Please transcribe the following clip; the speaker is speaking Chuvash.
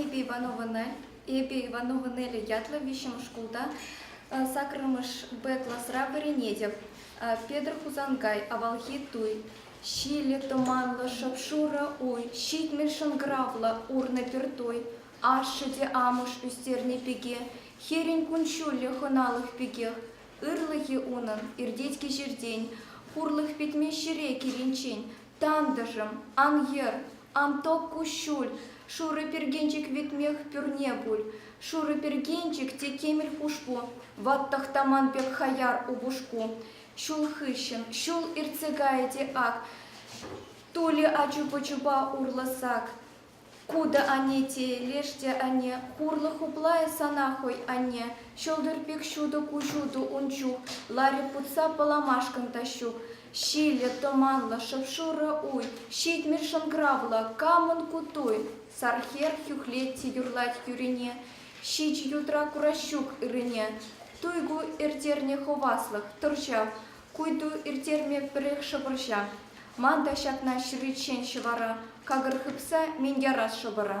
Эпӗ Ивановӑна Эпӗ Иванова Неля ятлӑ виҫҫӗмӗш шкулта сакӑрмӗш Б класра вӗренетӗп. Петӗр Хусанкай авалхи туй. Ҫилӗ тӑманлӑ шӑп-шурӑ уй, ҫитмӗл шӑнкӑравлӑ урнӑ пӗр туй. Ашшӗ те амӑш ӳстернӗ пике, хӗрӗн кун-ҫулӗ хӑналӑх пекех. Ырлӑхӗ унӑн иртет кӗҫӗртен, хурлӑх пӗтмест ҫӗре киличчен. Тантӑшӑм, ан йӗр, ан ток куҫҫуль, шурӑ пиркенчӗк витмех пӳрне пуль. Шурӑ пиркенчӗк те темӗл хушпу, ват тӑхтаман пек хаяр упӑшку. Ҫул хыҫҫӑн ҫул иртсе кайӗ те ак, Тулӗ ачу-пӑчупа урлӑ сак. Ку та анне тейӗ леш те анне, хурлӑ хуплайӗ сана хӑй, анне. Ҫӑлтӑр пек ҫутӑ куҫутӑ ун чух, ларӗ путса пӑламашкӑн Таҫҫук. Ҫиллӗ, тӑманлӑ, шӑп-шурӑ уй, ҫитмӗл шӑнкӑравлӑ, камӑн ку туй? Сар хӗр хӳхлет те юрлать тӳрене, ҫич ютра кураҫҫук ыррине. Туй ку, иртерне хӑваслӑх, тӑрҫав. Куйту ирттерме пӗрех шӑпӑрҫа. Ман та ҫакна ҫыриччен ҫӑвара какӑр хыпса минтерас шӑпӑра.